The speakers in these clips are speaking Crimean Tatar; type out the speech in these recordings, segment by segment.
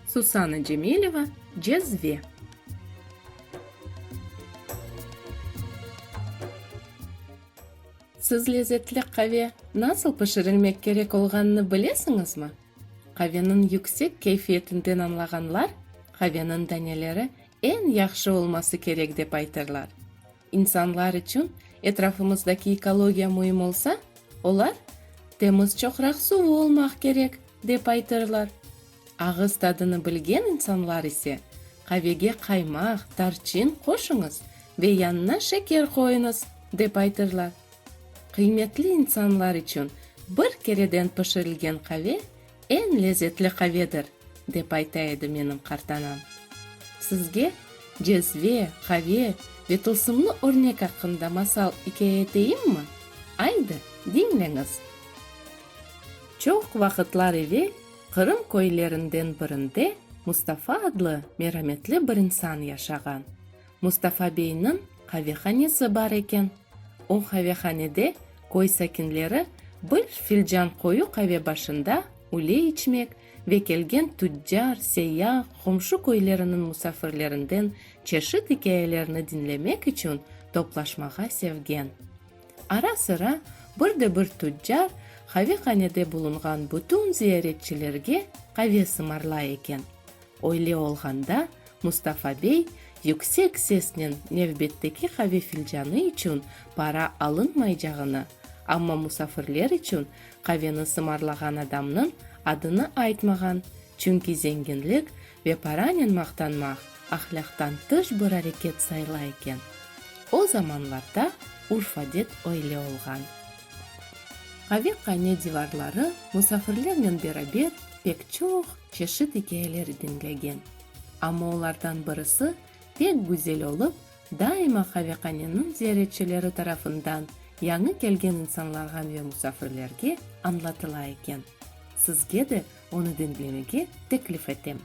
Susana Cemileva, Cezve. Siz lezetli qave nasıl pişirilmek kerek olğanını bilesiñizmi? Qaveniñ yüksek keyfiyetinden añlağanlar, qaveniñ daneleri eñ yahşı olması kerek dep aytırlar. İnsanlar içün etrafımızdaki ekologiya müim olsa, olar, Temiz çoqraq suvu olmaq kerek, dep aytırlar. Ağız tadını bilgen insanlar ise, Qavege qaymaq, tarçın qoşuñız ve yanına şeker qoyuñız, dep aytırlar. Qıymetli insanlar içün bir kereden pişirilgen qave Eñ lezetli qavedir, dep ayta edi menim qartanam. Sizge cezve, qave ve tılsımlı örnek aqqında masal ikâye eteyimmi? Aydı, diñleñiz. Çoq vaqıtlar evel Qırım köylerinden birinde Mustafa adlı merametli bir insan yaşağan. Mustafa beyniñ qavehanesi bar eken. O qavehanede köy sakinleri bir filcan qoyu qave başında üle içmek ve kelgen tüccar, seyyah, qomşu köyleriniñ musafirlerinden çeşit ikâyelerni diñlemek içün toplaşmağa sevgen. Ara-sıra bir de bir tüccar qavehanede bulunğan bütün ziyaretçilerge qave sımarlay eken. Öyle olğanda Mustafa bey yüksek sesnen nevbetteki qave filcanı içün para alınmaycağını, amma musafirler içün qaveni sımarlağan adamnıñ adını aytmağan, çünki zenginlik ve paranen maqtanmaq ahlâqtan tış bir areket sayıla eken. O zamanlarda urf-adet öyle olğan. Qaveqane divarları musafirlernen beraber pek çoq. çeşit ikâyeleri diñlegen. Amma olardan birisi pek güzel olıp, daima qaveqaneniñ ziyaretçileri tarafından yañı kelgen insanlarğa ve musafirlerge añlatıla eken. Sizge de onı diñlemege teklif etem.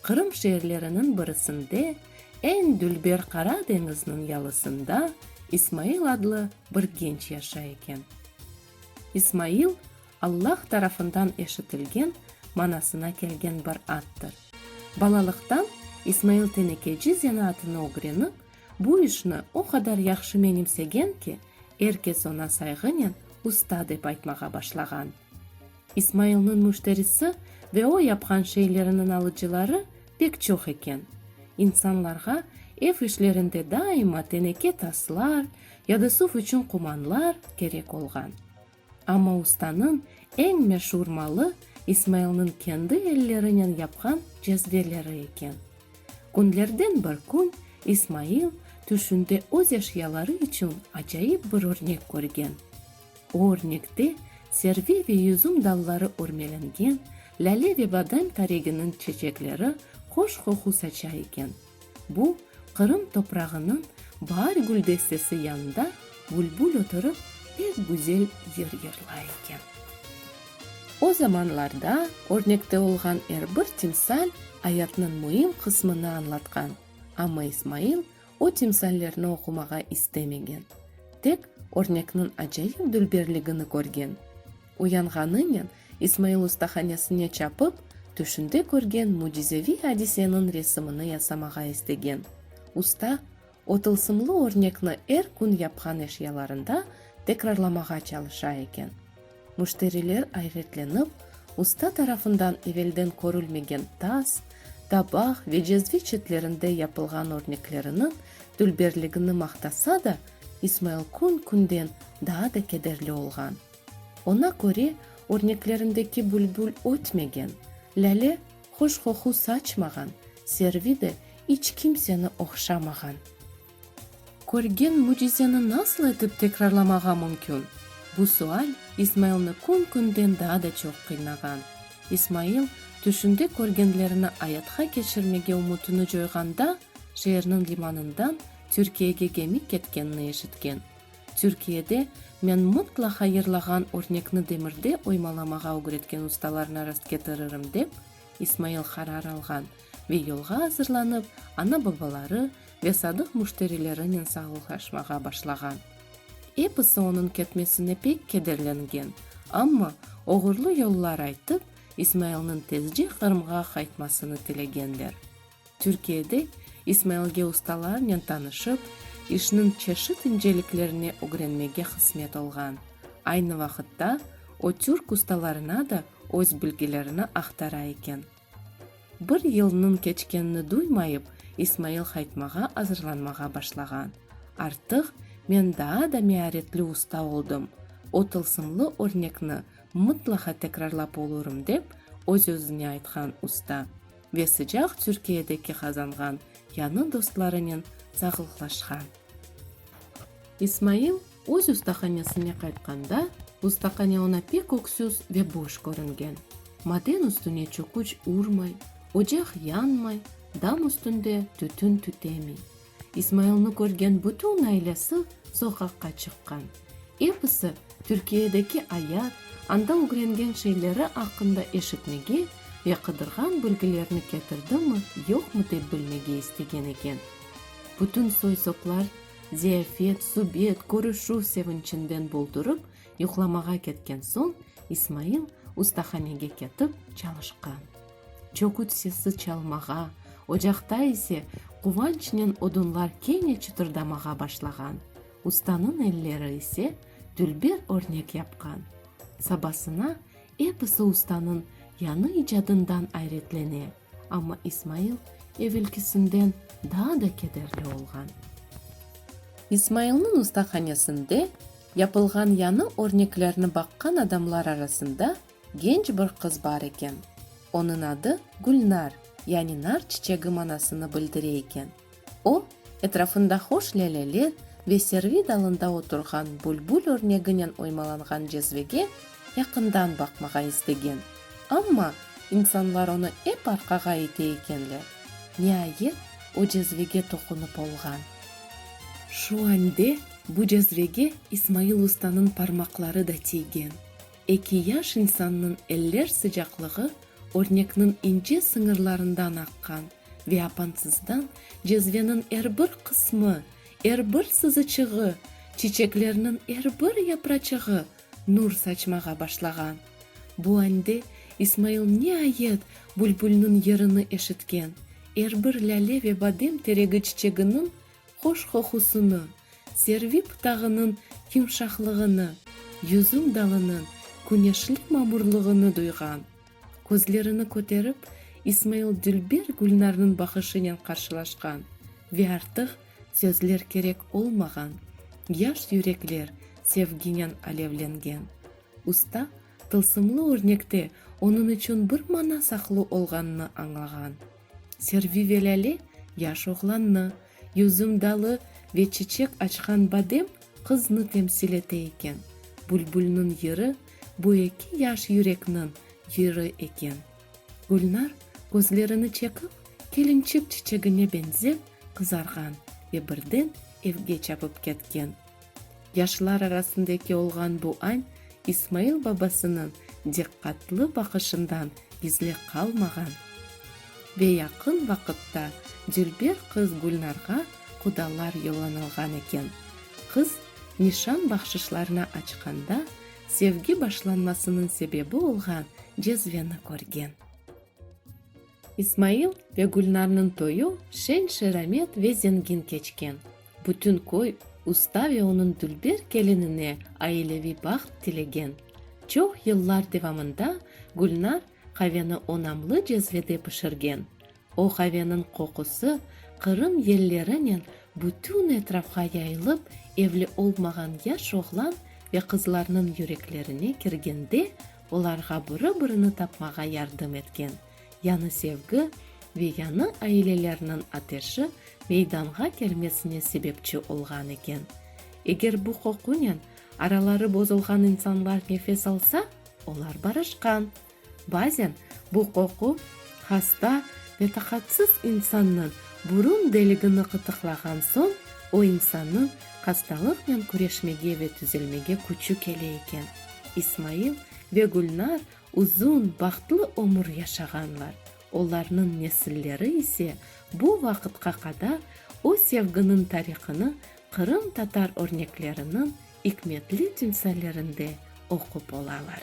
Qırım şeerleriniñ birisinde, eñ dülber Qara deñizniñ yalısında İsmail adlı bir genç yaşay eken. İsmail Allah tarafından eşitilgen manasına kelgen bir addır. Balalıqtan İsmail tenekeci zenaatını ögrenip, bu işni o qadar yahşı menimsegen ki, er kes oña sayğınen usta dep aytmağa başlağan. İsmailniñ müşterisi ve o yapqan şeyleriniñ alıcıları pek çoq eken. İnsanlarğa ev işlerinde daima teneke taslar ya da suv içün qumanlar kerek olğan. Amma ustanıñ eñ meşur malı İsmailniñ kendi ellerinen yapqan cezveleri eken. Künlerden bir kün İsmail tüşünde öz eşyaları içün acayip bir örnek körgen. O örnekte servi ve yüzüm dalları örmelengen lâle ve badem tareginiñ çeçekleri hoş qoqu saça eken. Bu, Qırım toprağınıñ baar güldestesi yanında bülbül oturıp pek güzel yır yırlay eken. O zamanlarda örnekte olğan er bir timsal ayatnıñ müim qısmını añlatqan, amma İsmail o timsallerni oqumağa istemegen, tek örnekniñ acayip dülberligini körgen. Uyanğanınen, İsmail ustahanesine çapıp, tüşünde körgen mücizeviy adiseniñ resimini yasamağa istegen. Usta, o tılsımlı örnekni er kün yapqan eşyalarında tekrarlamağa çalışa eken. Müşteriler ayğetlenip, usta tarafından evelden körülmegen tas, tabaq ve cezve çetlerinde yapılğan örnekleriniñ dülberligini maqtasa da, İsmail kün-künden daa da kederli olğan. Oña köre, örneklerindeki bülbül ötmegen, lâle hoş qoqu saçmağan, servi de iç kimseni oqşamağan. Körgen mücizeni nasıl etip tekrarlamağa mümkün? Bu sual İsmailni kün-künden daa da çoq qıynağan. İsmail tüşünde körgenlerini ayatqa keçirmege ümütini coyğanda, şeerniñ limanından Türkiyege gemi ketkenini eşitken. Türkiyede men mıtla hayırlağan örnekni demirde oymalamağa ögretken ustalarına rastketiririm, dep İsmail qarar alğan ve yolğa azırlanıp, ana-babaları ve sadıq müşterilerinen sağlıqlaşmağa başlağan. Episi onıñ ketmesine pek kederlengen, amma oğurlı yollar aytıp, İsmailniñ tezce Qırımğa qaytmasını tilegenler. Türkiyede İsmailge ustalarnen tanışıp, işniñ çeşit inceliklerini ögrenmege hısmet olğan. Aynı vaqıtta o türk ustalarına da öz bilgilerini aqtara eken. Bir yılnıñ keçkenini duymayıp, İsmail qaytmağa azırlanmağa başlağan. Artıq men daa da mearetli usta oldım, o tılsımlı örnekni mıtlaqa tekrarlap olurım, dep öz-özüne aytqan usta. ve sıcaq Türkiyedeki qazanğan yanı dostlarınen sağlıqlaşqan. İsmail öz ustahanesine qaytqanda, ustahane oña pek öksüz ve boş körüngen. Maden üstüne çöküç urmay, ocaq yanmay, dam üstünde tütün tütemiy. İsmailni körgen bütün ailesi soqaqqa çıqqan. Episi Türkiyedeki ayat, anda ögrengen şeyleri aqqında eşitmege ve qıdırğan bilgilerni ketirdimi, yoqmı dep bilmege istegen eken. Bütün soy-soplar ziyafet, subet, körüşüv sevinçinden boldurıp yuqlamağa ketken soñ İsmail ustahanege ketip çalışqan. Çoqut sesi çalmağa, ocaqta ise quvançnen odunlar kene çıtırdamağa başlağan. Ustanıñ elleri ise dülber örnek yapqan. Sabasına episi ustanıñ yañı icadından ayretlene, amma İsmail evelkisinden daa da kederli olğan. İsmailniñ ustahanesinde yapılğan yañı örneklerni baqqan adamlar arasında Genç bir qız bar eken. Onıñ adı Gülnar, yani nar çiçegi manasını bildire eken. O, etrafında hoş lâleler ve servi dalında oturğan bülbül örneginen oymalanğan cezvege yaqından baqmağa istegen, amma insanlar onı ep arqağa ite ekenler. Niayet, o cezvege toqunıp olğan. Şu ande bu cezvege İsmail ustanıñ parmaqları da tiygen. Eki yaş insannıñ eller sıcaqlığı örnekniñ ince sıñırlarından aqqan ve apansızdan cezveniñ er bir qısmı, er bir sızıçığı, çiçeklerniñ er bir yapraçığı nur saçmağa başlağan. Bu ande İsmail niayet bülbülniñ yırını eşitken, er bir lâle ve badem teregi çiçeginiñ hoş qoqusını, Servip tağınıñ yumşaqlığını, yüzüm dalınıñ küneşli mamurlığını duyğan, közlerini köterip, İsmail dülber Gülnarnıñ baqışınen qarşılaşqan ve artıq sözler kerek olmağan yaş yürekler sevginen alevlengen usta tılsımlı örnekte onıñ içün bir mana saqlı olğanını añlağan Servi ve Lâle yaş oğlannı Yüzüm dalı ve çiçek açqan badem qıznı temsil ete eken, bülbülniñ yırı bu eki yaş yürekniñ yırı eken. Gülnar, közlerini çekip, kelinçik çiçegine beñzep qızarğan ve birden evge çapıp ketken. Yaşlar arasındaki olğan bu añ İsmail babasınıñ diqqatlı baqışından gizli qalmağan. Ve yaqın vaqıtta dülber qız Gülnarğa qudalar yollanılğan eken. Qız nişan bahşışlarına açqanda sevgi başlanmasınıñ sebebi olğan cezveni körgen. İsmail ve Gülnarnıñ toyu şen-şeramet ve zengin keçken. Bütün köy usta ve onıñ dülber kelinine aileviy baht tilegen. Çoq yıllar devamında Gülnar qaveni onamlı cezvede pişirgen. O qaveniñ qoqusı Qırım yellerinen bütün etrafğa yayılıp, evli olmağan yaş oğlan ve qızlarnıñ yüreklerine kirgende olarğa biri-birini tapmağa yardım etken yanı sevgi ve yanı ailelerniñ ateşi meydanğa kelmesine sebepçi olğan eken. Eger bu qoqunen araları bozulğan insanlar nefes alsa, olar barışqan. Bazen bu qoqu hasta ve taqatsız insannıñ burun deligini qıtıqlağan soñ o insannıñ hastalıqnen küreşmege ve tüzelmege küçü kele eken. İsmail ve Gülnar uzun, bahtlı ömür yaşağanlar, olarnıñ nesilleri ise bu vaqıtqa qadar o sevginiñ tarihını qırımtatar örnekleriniñ ikmetli timsallerinde oqup olalar.